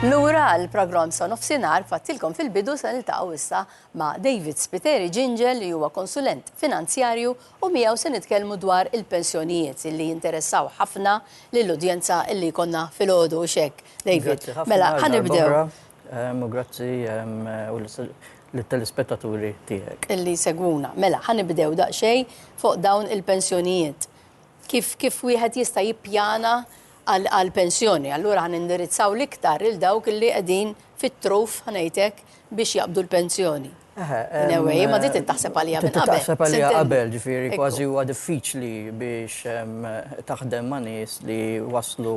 Lura l-programm sa nofsinhar fattilkom fil-bidu se niltaqgħu issa ma' David Spiteri Ġinġel li huwa konsulent finanzjarju u miegħu se nitkellmu dwar il-pensjonijiet li jinteressaw ħafna lill-udjenza li jkollna filgħodu u x'hekk. David, mela ħanibdew. U grazzi lit-telespettaturi tiegħek. Li jsegwuna. Mela, ħa nibdew daqsxejn fuq dawn il-pensjonijiet. Kif kif wieħed jista' jippjana għal għall-pensjoni. Allura ħa nindirizzaw l-iktar lil dawk li qegħdin fit-truf, ħa ngħid hekk, biex jaqbdu l-pensjoni. Eħe. In a way, imma din trid taħseb għaliha minn qabel. Trid taħseb għaliha qabel, ġifieri kważi huwa diffiċli biex taħdem ma' nies li waslu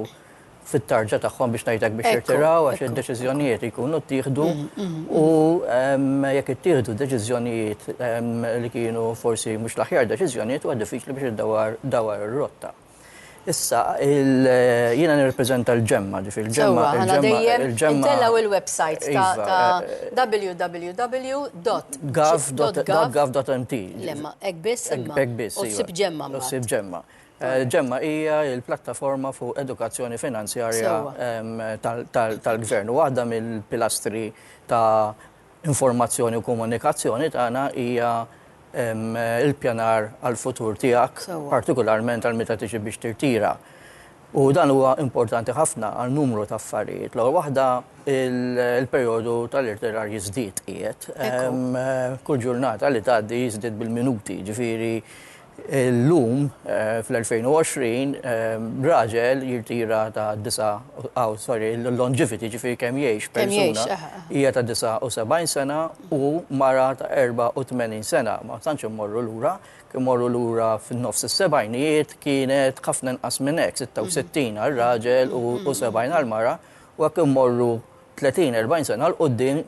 fit-tarġa tagħhom biex ngħidlek biex jirtiraw għax id-deċiżjonijiet jkunu ttieħdu mm, mm, mm. u jekk ittieħdu deċiżjonijiet li kienu forsi mhux l-aħjar deċiżjonijiet huwa diffiċli biex iddawar dawar ir-rotta. Issa, jiena nirrepreżenta l-ġemma, ġifir l-ġemma. Il-ġemma. Tellaw il-website ta' iva, eh, eh, www.gov.mt. Lemma, ekbis, ekbis. U sib ġemma. U sib ġemma. Ġemma hija l-plattaforma fuq edukazzjoni finanzjarja tal-Gvern. Waħda mill-pilastri ta' informazzjoni u komunikazzjoni tagħna hija l-ippjanar għall-futur tiegħek, partikolarment għal meta tiġi biex tirtira. U dan huwa importanti ħafna għal numru ta' affarijiet. L-ewwel waħda, il-perjodu tal-irtirar jiżdied qiegħed. Kull ġurnata li tgħaddi jiżdied bil-minuti, jiġifieri Illum, fl-2020, raġel jirtira ta' disa', aw sorry, l-longevity, ġifieri kemm jgħix persuna, hija ta' 79 sena u mara ta' 84 sena. Ma tantx immorru lura. Immorru lura fin-nofs is-sebgħinijiet, kienet ħafna inqas minn hekk, 66 għar-raġel u 70 għall-mara, u hekk immorru 30, 40 sena 'l quddiem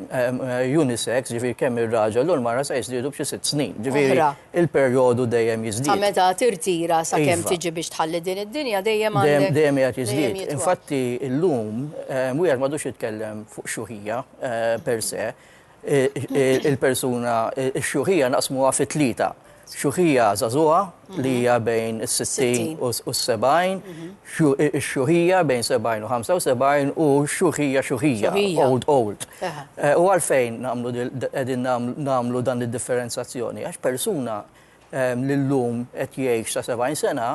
unisex, ġifieri kemm ir-raġel u l-mara se jiżdiedu b'xi sitt snin. Ġifieri il-perjodu dejjem jiżdied. Ta' meta tirtira sakemm tiġi biex tħalli din id-dinja dejjem għandek. Dejjem qiegħed jiżdied. Infatti llum wieħed m'għadux jitkellem fuq xuħija per se. il-persuna x-xjuħija naqsmuha fi tlieta. Xjuħija żagħżugħa li hija bejn is-60 u s-70, x-xjuħija bejn 70 u 75 u x-xjuħija xjuħija, old old. U għalfejn nagħmlu dan id-differenzazzjoni? Għax persuna li llum qed jgħix sa 70 sena,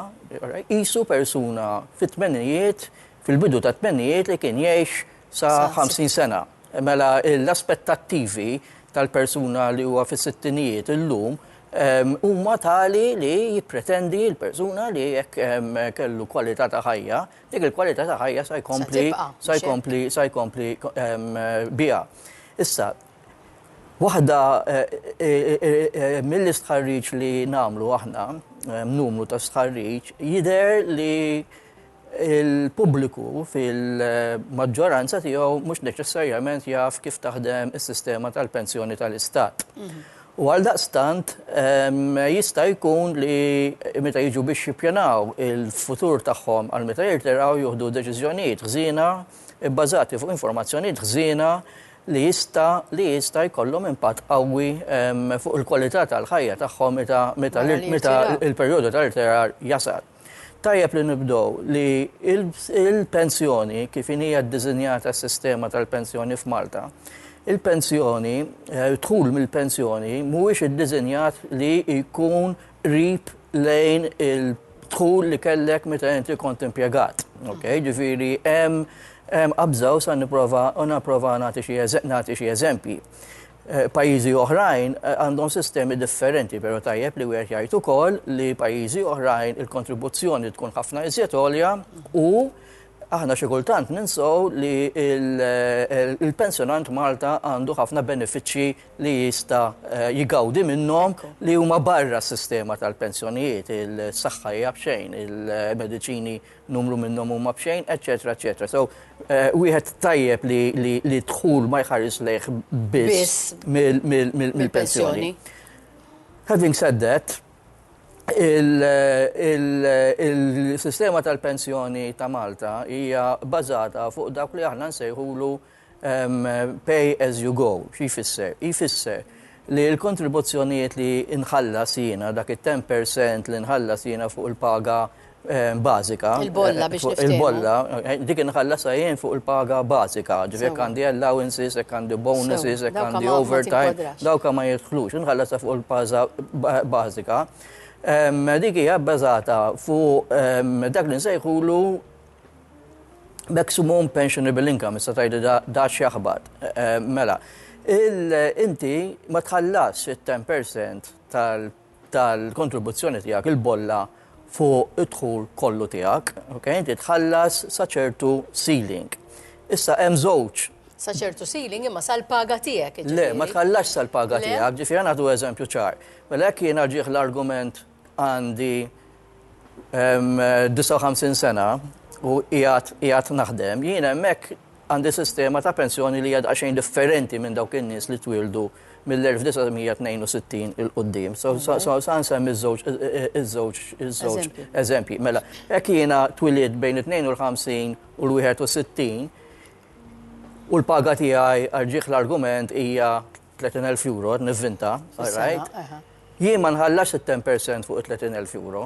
qisu persuna fit-tmenijiet, fil-bidu tat-tmenijiet li kien jgħix sa 50 sena. Mela l-aspettattivi tal-persuna li huwa fis-sittinijiet illum huma tali li jippretendi l-persuna li jekk kellu kwalità ta' ħajja, dik il-kwalità ta' ħajja sa jkompli sa jkompli sa jkompli biha. Issa, waħda mill-istħarriġ li nagħmlu aħna, numru ta' stħarriġ, jidher li il-pubbliku fil-maġġoranza tiegħu mhux neċessarjament jaf kif taħdem is-sistema tal-pensjoni tal-Istat. U għal daqstant jista' jkun li meta jiġu biex jippjanaw il-futur tagħhom għal meta jirtiraw juħdu deċiżjonijiet ħżiena bbażati fuq informazzjonijiet ħżiena li jista' li jista' jkollhom impatt qawwi fuq il-kwalità tal-ħajja tagħhom meta meta meta l-perjodu tal-irtirar jasal. Tajjeb li nibdew li l-pensjoni, kif inhi ddisinjata s-sistema tal-pensjoni f'Malta, il-pensjoni, d-dħul mill-pensjoni mhuwiex iddisinjat li jkun qrib lejn il-dħul li kellek meta inti kont impjegat. Okej? Ġifieri hemm qabża u sa nipprova nagħti xi eżempji. Eh, pajjiżi oħrajn eh, għandhom sistemi differenti, pero tajjeb li wieħed jgħid ukoll li pajjiżi oħrajn il-kontribuzzjoni tkun ħafna iżjed għolja u aħna xi kultant ninsow li eh, il-pensjonant Malta għandu ħafna benefiċċji li jista jigawdi minnhom li huma barra s-sistema tal-pensjonijiet, il-saħħa hija b'xejn, il-mediċini numru minnhom huma b'xejn, eċetera, eċetera. So, eh, wieħed tajjeb li, li, li dħul ma jħares lejh biss mill-pensjoni. Having said that, il-sistema tal-pensjoni ta' Malta hija bażata fuq dak li aħna nsejħulu Pay as you go, xi jfisser? Jfisser li l-kontribuzzjonijiet li nħallas jiena, dak it-ten per cent li nħallas jiena fuq il-paga bażika. Il-bolla biex niftehmu. Il-bolla, dik inħallasha jien fuq il-paga bażika, ġifieri jekk għandi allowances, jekk għandi bonuses, jekk għandi overtime, dawk ma jidħlux, inħallasha fuq il-paga bażika. Dik hija bbażata fuq dak li nsejħulu Maximum pensionable income, issa tajdi da xjaħbat. Mela, inti ma tħallas il-10% tal-kontribuzzjoni tijak, il-bolla fuq id-dħul kollu tijak, ok, inti tħallas saċertu ceiling. Issa, hemm żewġ. Saċertu ceiling imma sal-paga tijak. Le, ma tħallas sal-paga tijak, ġifiri għana għadu eżempju ċar. Mela, jek jena ġieħ l-argument Għandi 59 sena u qiegħed naħdem. Jien hemmhekk għandi sistema ta' pensjoni li hija daqsxejn differenti minn dawk in-nies li twildu mill-1962 il-qoddim. So sa nsemmi iż-żewġ eżempji. Mela, hekk jiena twilied bejn it-52 u l-61 u l-paga tiegħi għal ġieħ l-argument hija 30,000 euro, qed nivvinta, all right? Jien ma nħallasx it-ten per cent fuq it-30,000 euro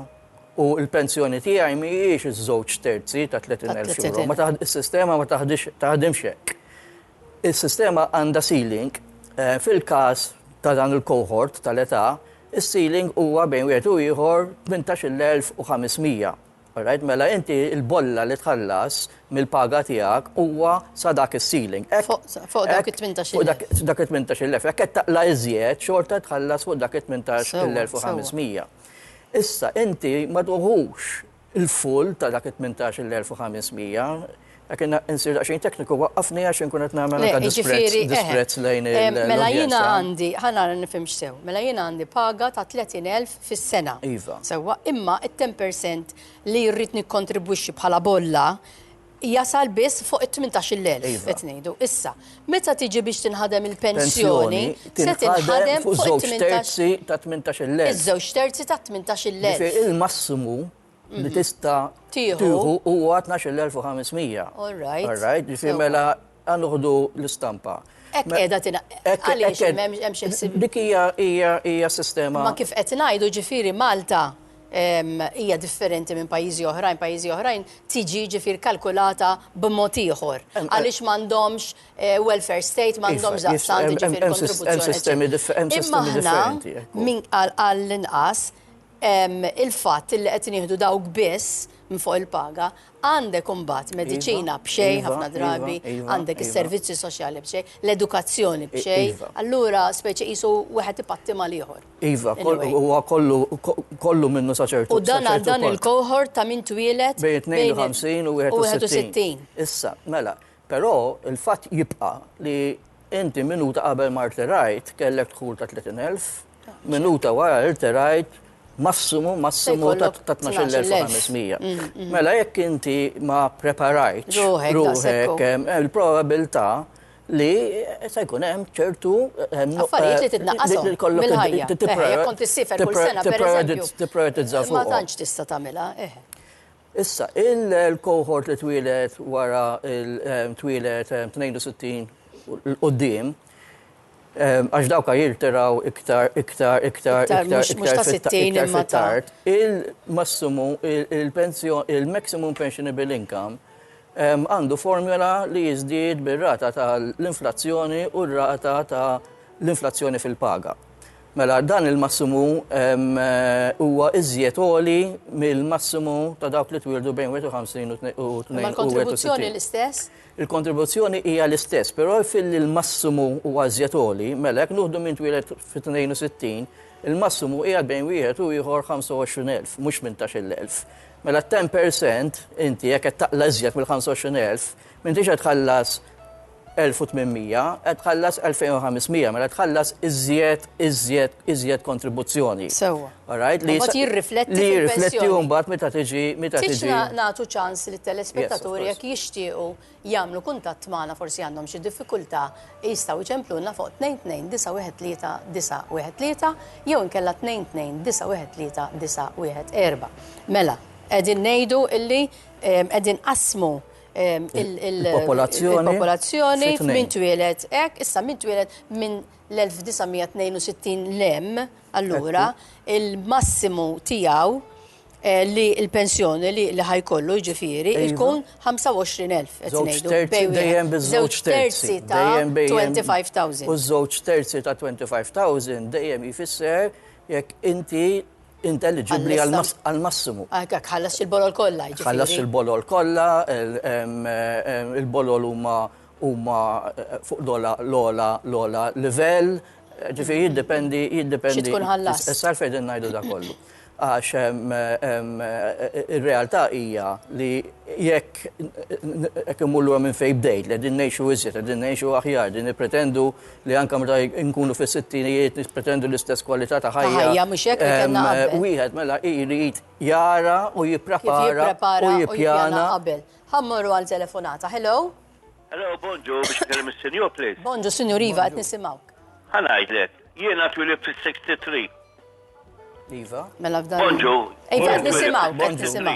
u l-pensjoni tiegħi mhijiex iż-żewġ terzi ta' 30,000 euro. Ma taħ, is-sistema ma taħdix, taħdimx hekk. Is-sistema għandha ceiling, fil-każ ta' dan il-cohort tal-età, is-ceiling huwa bejn wieħed u ieħor 18,500. All right, mela inti l-bolla li tħallas mill-paga tiegħek huwa sa dak is-ceiling. Fuq dak it-18,000. Dak it-18,000. Jekk qed taqla' iżjed, xorta tħallas fuq dak it-18,500. Issa inti ma tuħux il-full ta' dak it-18,500. Dak inna insir daqxin tekniku, waqqafni għax inkun qed nagħmel anke disprezz lejn eh, il Mela jiena għandi, ħana nifhimx sew, mela jiena għandi paga ta' 30,000 fis-sena. Iva. Sewwa, imma it-10% li rrid nikkontribwixxi bħala bolla jasal biss fuq it-18,000 iva. qed ngħidu. Issa, meta tiġi biex tinħadem il-pensjoni, se tinħadem fuq żewġ terzi ta' 18,000. Iż-żewġ terzi ta' 18,000. Il-massimu li mhm. tista tieħu huwa 12,500. All right. All right, ġifi mela għanuħdu l-istampa. Ek edha tina, għalix hemm xi ħsib. Dik hija hija sistema. Ma kif qed ngħidu ġifieri Malta hija differenti minn pajjiżi oħrajn, pajjiżi oħrajn tiġi ġifir kalkulata b'mod ieħor. Għaliex m'għandhomx eh, welfare state, m'għandhomx daqstant ġifir kontribuzzjoni. Imma aħna minn għall-inqas il-fatt li qed nieħdu dawk biss minn fuq il-paga, għandek imbagħad mediċina b'xejn ħafna drabi, għandek is-servizzi soċjali b'xejn, l-edukazzjoni b'xejn, allura speċi qisu wieħed ipatti mal-ieħor. Iva, huwa kollu kollu minnu sa ċertu punt. U dan għal dan il-cohort ta' min twieled bejn 52 u 61. Issa, mela, Però il-fatt jibqa' li inti minuta qabel ma rterajt kellek dħul ta' 30,000, minuta wara rterajt massimu massimu ta' 12,500. Mela jekk inti ma preparajtx ruħek il-probabilità li se jkun hemm ċertu affarijiet li titnaqqas mill-ħajja. Jekk kont issifer kull sena pereżempju. Tipprioritizza fuq. Ma tantx tista' tagħmilha. Issa, il-cohort li twieled wara twieled 62 'l quddiem, għax dawk ha jirtiraw iktar, iktar, iktar, iktar, iktar fit-tard, il-massimu, il-maximum pensionable income għandu formula li jiżdied bir-rata tal-inflazzjoni u r-rata tal-inflazzjoni fil-paga. Mela, dan il-massimu huwa iżjed għoli mill-massimu ta' dawk li twieldu bejn 51 u 62. Imma l-kontribuzzjoni l-istess? Il-kontribuzzjoni hija l-istess, però filli l-massimu huwa iżjed għoli, mela jekk nuħdu minn twieled fit-62, il-massimu qiegħed bejn wieħed u ieħor 25,000, mhux 18,000. Mela t-10% inti jekk qed taqla' iżjed mill-25,000, m'intix qed tħallas 1,800, qed tħallas 2,500, mela tħallas iżjed, iżjed, iżjed kontribuzzjoni. Sewwa. All right? Li Mbagħad jisa- jirrifletti Li jirrifletti fil-pensjoni. u mbagħad meta tiġi meta Tix tiġi. na- nagħtu ċans li telespettaturi Yes, of jekk jixtiequ jagħmlu kuntatt magħna forsi għandhom xi diffikultà jistgħu jċemplulna fuq 22913913 jew inkella 22913914. Mela, qegħdin ngħidu illi em, qegħdin qasmu il-popolazzjoni minn twieled hekk, issa minn twieled minn l-1962 lem allura il-massimu tiegħu eh, li l-pensjoni li ħajkollu ġifiri iva. tkun 25,000 dejjem biż-żewġ terzi ta' 25,000. U żewġ terzi ta' 25,000 dejjem jfisser jekk inti intelligibbli għal-massimu. Għak, ħallas il-bolol kollha. Jiġifieri. Ħallas il-bolol kollha, il-bolol huma huma eh, fuq l-ola l-ola l-ola livell, ġifieri jiddependi jiddependi. Xi tkun ħallas. Issa fejn ngħidu da kollu għax il-realtà hija li jekk jekk imullu minn fejn bdejt li din ngħixu iżjed, din ngħixu aħjar, din nippretendu li anka meta nkunu fis sittinijiet nispretendu l-istess kwalità ta' ħajja. Ħajja mhux hekk li kellna qabel. Wieħed mela irid jara u jipprepara u jippjana. qabel. Ħammorru għal telefonata. Hello? Hello, bonġu, biex kellim is-senjur, please. Bonġu, senjur Iva, qed nisimgħuk. Ħanajdlek, jiena twilib fis-63. Iva. Mela f'dan. Bonġu. Iva, qed nisimgħu, qed nisimgħu.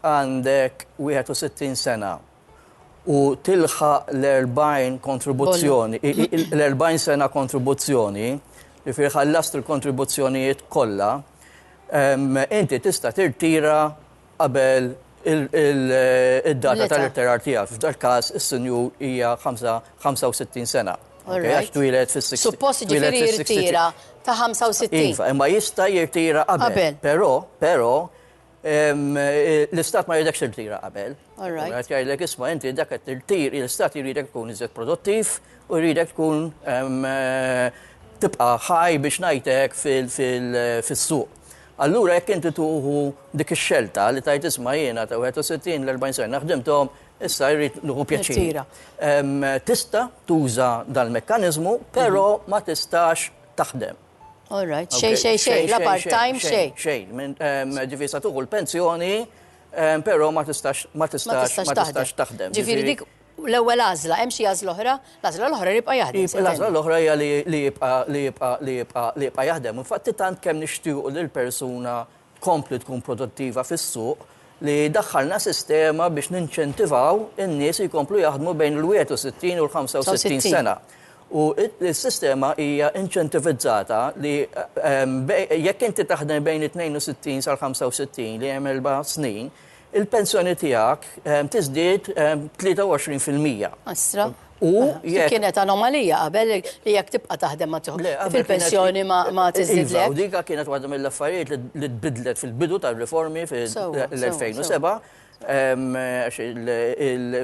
għandek 61 sena u tilħaq l-40 kontribuzzjoni, l-40 sena kontribuzzjoni, jiġifieri ħallast il-kontribuzzjonijiet kollha, inti tista' tirtira qabel id-data tal-irtirar tiegħek. F'dak il-każ, is-sinjur hija 65 sena, għax twieled fis-60. Suppost jiġifieri jirtira ta' 65. Iva, imma jista' jirtira qabel. Qabel. Però, però, L-istat ma jridekx tirtira qabel. Għet jgħidlek isma' inti dak qed tirtir, l-istat jridek tkun iżjed produttiv u jridek tkun tibqa' ħaj biex ngħidlek fis-suq. Allura jekk inti tuħu dik ix-xelta li tgħid isma' jiena ta' 61 l-40 sena ħdimthom, issa jrid nieħu pjaċir. Tista' tuża dal-mekkaniżmu, però ma tistax taħdem. All right, xej, xej, xej, la part-time, xej. Xejn, ehm, ġifi sa tuħu l-pensjoni, ehm, pero ma tistax, ma tistax, ma tistax taħdem. Ġifiri dik l-ewwel għażla, hemm xi għażla oħra, l-għażla l-oħra jibqa' jaħdem. L-għażla l-oħra hija li jibqa' li jibqa' li jibqa' li jibqa' jaħdem. Infatti tant kemm nixtiequ lil persuna tkompli tkun produttiva fis-suq li daħħalna sistema biex ninċentivaw in-nies jkomplu jaħdmu bejn il-61 u l-65 sena. U s-sistema hija inċentivizzata li jekk inti taħdem bejn it-62 sal-65 li hemm erba' snin, il-pensjoni tiegħek tiżdied b'23 fil-mija. Astra. U jekk. Kienet anomalija qabel li jekk tibqa' taħdem ma tieħu. Fil-pensjoni ma tiżdidlek. U dik kienet waħda mill-affarijiet li tbiddlet fil-bidu tar-riformi fil-2007. Għax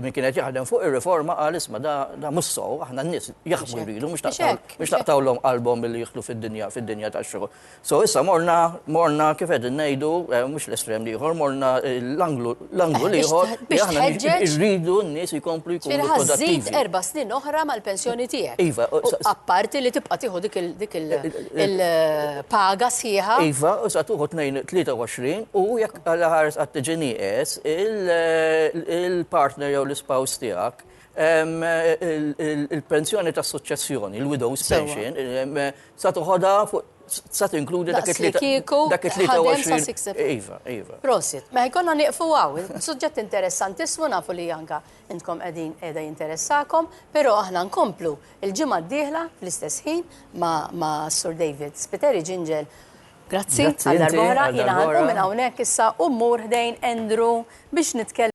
min kienet jaħdem fuq ir-riforma qal isma' da mhux sew, aħna n-nies jaħdmu jridu mhux naqtgħulhom qalbhom billi jidħlu fid-dinja tax-xogħol. So issa morna, morna kif qegħdin ngħidu, eh, mhux l-estrem liħor, morna eh, l-anglu eh, liħor li aħna rridu n-nies jkomplu jkunu ħażid erba' snin oħra mal-pensjoni tiegħek. Iva, apparti li tibqa' tieħu dik il-paga sħiħa. Iva, u sa tuħu 23 u jekk għal ħares għat-tiġini il-partner jew l-ispaws tiegħek Il-pensjoni ta' suċċessjoni, il-widow's pension, sa toħodha fuq sa tinkludi dak it-23. Iva, iva. Prosit, ma jkollna nieqfu għaw, suġġett interessanti smu nafu li janka intkom qegħdin qiegħda jinteressakom, però aħna nkomplu il-ġimgħa d-dieħla fl-istess ħin ma' Sur David Spiteri Ġinġel. Grazzi, għal darba oħra, jiena ħanqu minn hawnhekk issa u mmur ħdejn Andrew biex nitkellem.